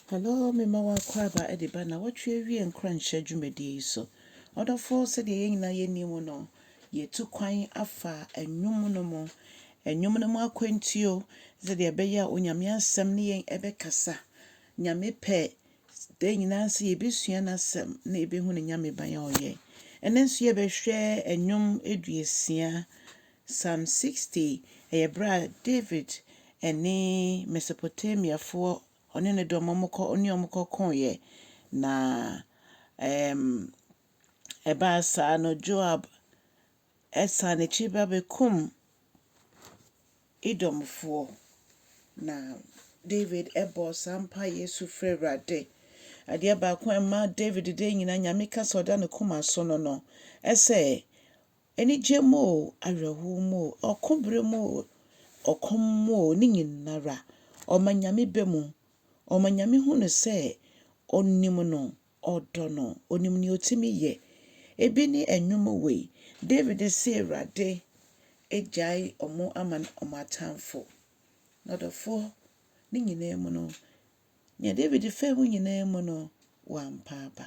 Hello, mema wo akwaaba de ba nnawɔtwe awiee nkuranhyɛ dwumadie yi so. Ɔdɔfo, sɛdeɛ yɛn nyinaa yɛnim no, yɛtu kwan afa nnwom no mu. Nnwom no mu akwantuo, sɛdeɛ ɛbɛyɛ a Onyame asɛm ne yɛn ɛbɛkasa. Nyame pɛ, da nyinaa sɛ yɛbɛsua N'asɛm na yɛbɛhu Ne Nyame ban a Ɔyɛ. Ɛnnɛ nso yɛbɛhwɛ nnwom aduosia Psalm sixty yɛ berɛ a David ne Mesopotamiafoɔ ɔne ne dɔm a wɔkɔ ɔne wɔn kɔkoeɛ, na ɛɛm ɛbaa saa no Joab san n'akyi ba bɛkum Edomfoɔ, na David bɔ saa mpaeɛ su frɛ Awurade. Adeɛ baako a ɛma David deɛ nyinaa Nyame ka sɛ ɔda ne koma so no no sɛ Anigye mu oo, awerɛhow mu oo, ɔko bere mu oo, ɔkɔm mu oo, ne nyinara, ɔma Nyame bɛ mu. Ɔma Nyame hu no sɛ onim no, ɔdɔ no, onim nea otumi yɛ. Ebi ne nnwom wei, David se Awurade agyae wɔn ama wɔn atamfo. N'ɔdɔfo ne nyinaa mu no, nea David faa mu nyinaa mu no, wampaaba.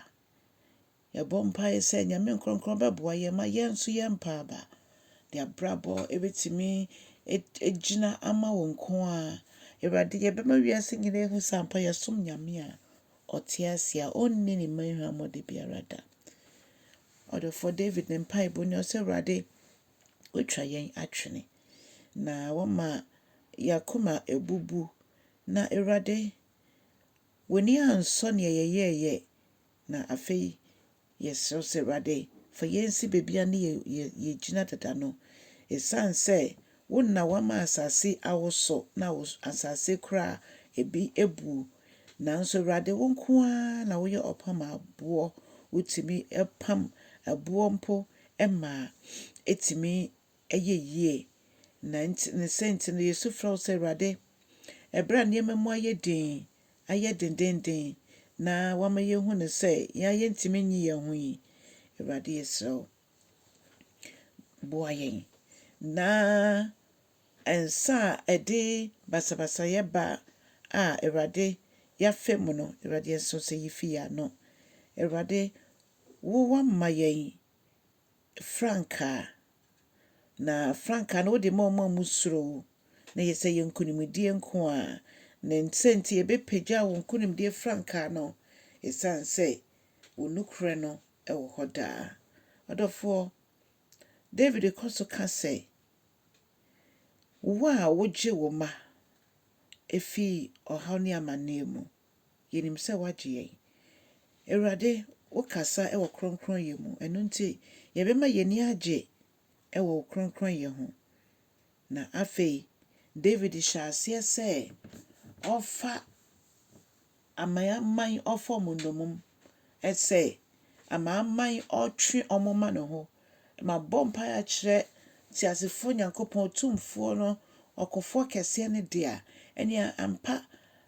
Yɛbɔ mpaeɛ sɛ Nyame nkrɔnkrɔn bɛboa yɛn ma yɛn nso yɛn mpaaba de abrabɔ ɛbɛtumi agyina ama wo nko ara. Awurade yɛbɛma wiase nyinaa ahu sɛ ampa yɛsom Nyame a ɔte ase a ɔnni ne mma hwammɔde biara da. Ɔdɔfoɔ David ne mpaebɔ ni ɔsɛ Awurade watwa yɛn atwene na wama yɛakoma abubu na Awurade w'ani ansɔ neɛ yɛyɛɛyɛ Na afei yɛsrɛ wo sɛ, Awurade, fa yɛn nsi baabi a na yɛgyina dada no. Esiane sɛ wo na woama asase yi awoso na asase koraa ebi abu. Nanso Awurade, wo nko ara na woyɛ ɔpamaboɔ. Wotumi pam ɛboɔ mpo ma ɛtumi Ɛyɛ yie. Na nti, ne sɛ nti no yɛsu frɛ wo sɛ, Awurade, ɛberɛ a nneɛma mu ayɛ dinn, ayɛ dendeenden, na wama yɛhu no sɛ yɛn ara yɛntumi nyi yɛn ho yi, Awurade yɛsrɛ wo, boa yɛn. Na nsa a ɛde basabasayɛ ba a Awurade yɛafa mu no, Awurade yɛsrɛ sɛ yi fi yɛn ano. Awurade, wo wama yɛn frankaa, na frankaa no wode ma wɔn a wɔsuro wo, na yɛ sɛ yɛ nkonimdie nko a. Na sɛ nti yɛbɛpagya wo nkonimdie frankaa no, ɛsiane sɛ wo nokorɛ no wɔ hɔ daa. Ɔdɔfoɔ, David kɔ so ka sɛ, Wo a wogye wo mma fi ɔhaw ne amanneɛ mu. Yɛnim sɛ woagye yɛn. Awurade, wokasa wɔ kronkronyɛ mu, ɛno nti yɛbɛma yɛn ani agye wɔ wo kronkronyɛ ho. Na afei Dawid hyɛɛ aseɛ sɛ ɔrefa amanaman ɔfam nnommum sɛ amanaman ɔretwe wɔn ma ne ho. Mabɔ mpaeɛ akyerɛ Teasefoɔ Nyankopɔn, Otumfoɔ no, Ɔkofoɔ Kɛseɛ no Dea, ɛneɛ ampa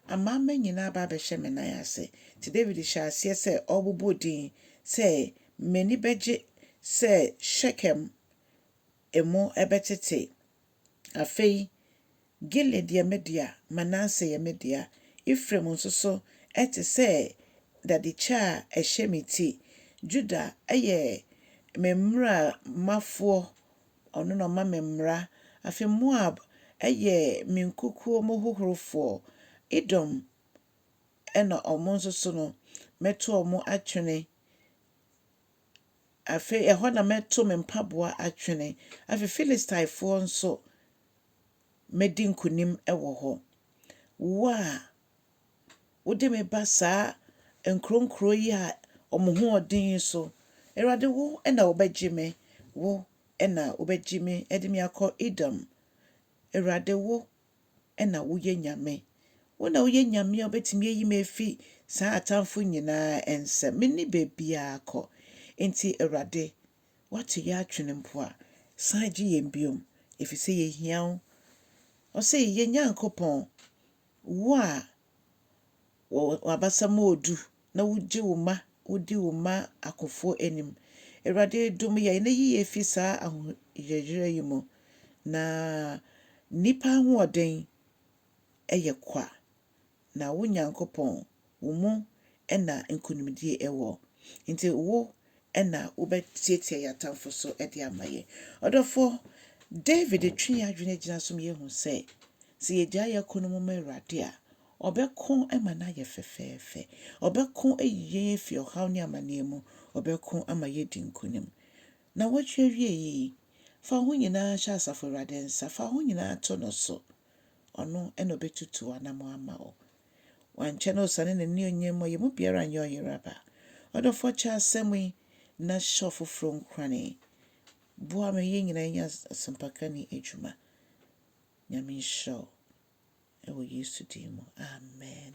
amanaman nyina aba abɛhyɛ me nan ase. Nti Dawid hyɛɛ aseɛ sɛ ɔrebobɔ din sɛ, M'ani bɛgye sɛ Shekem mu bɛtete. Afei Gilead yɛ me dea, Manase yɛ me dea, Efraim nso so te sɛ dadekyɛ a ɛhyɛ me ti. Juda yɛ me mmarafoɔ, ɔno na ɔma me mmara. Afei Moab yɛ me nkukuo mu hohorofoɔ, Edom na wɔn nso so no, mɛto wɔn atwene. Afei ɛhɔ na mɛto me mpaboa atwene. Afei Filistifoɔ nso, mɛdi nkonim wɔ hɔ. Wo a wode me ba saa nkuronkuro yi a wɔn ho yɛ den yi so, Awurade, wo na wobɛgye me, wo na wobɛgye me de me akɔ Edom. Awurade, wo na woyɛ Nyame. Wo na woyɛ Nyame a wobɛtumi ayi me afi saa atamfo nyinaa nsam. Menni baabiara kɔ. Enti Awurade, Woate yɛ atwene mpo a, san gye yɛn bio, ɛfiri sɛ yɛhia wo. Ɔse, Yɛn Nyankopɔn, wo a w'abasa mu ɔdu na wogye wo mma, wodi wo mma akofoɔ anim. Awurade, dom yɛn na yi yɛn firi saa ahoyerayera yi mu, na nnipa ahoɔden yɛ kwa. Na wo Nyankopɔn, wo mu na nkonimdie wɔ. Enti wo na wobɛtiatia yɛn atamfo so de ama yɛn. Ɔdɔfoɔ, David twe yɛn adwene gyina so ma yɛhu sɛ, sɛ yɛgyae yɛn ko no mu ma Awurade a, Ɔbɛko ma no ayɛ fɛfɛɛfɛ. Ɔbɛko ayi yɛn afiri ɔhaw ne amaneɛ mu. Ɔbɛko ama yɛadi nkonim. Nnawɔtwe awiei yi, fa wo ho nyinaa hyɛ Asafo Awurade nsa. Fa wo ho nyinaa to no so. ɔno na obetutu w'anammɔn ama wo. Wankyɛ na osiane n'anuonyam mu a yɛn mu biara nyɛ ɔyera ba. Ɔdɔfoɔ kyɛ asɛm yi na hyɛ ɔfoforɔ nkurane. Boa ma yɛn nyinaa nyɛ asɛmpaka ni adwuma. Nyame nhyira wo. Ɛwɔ Yesu din mu, amen.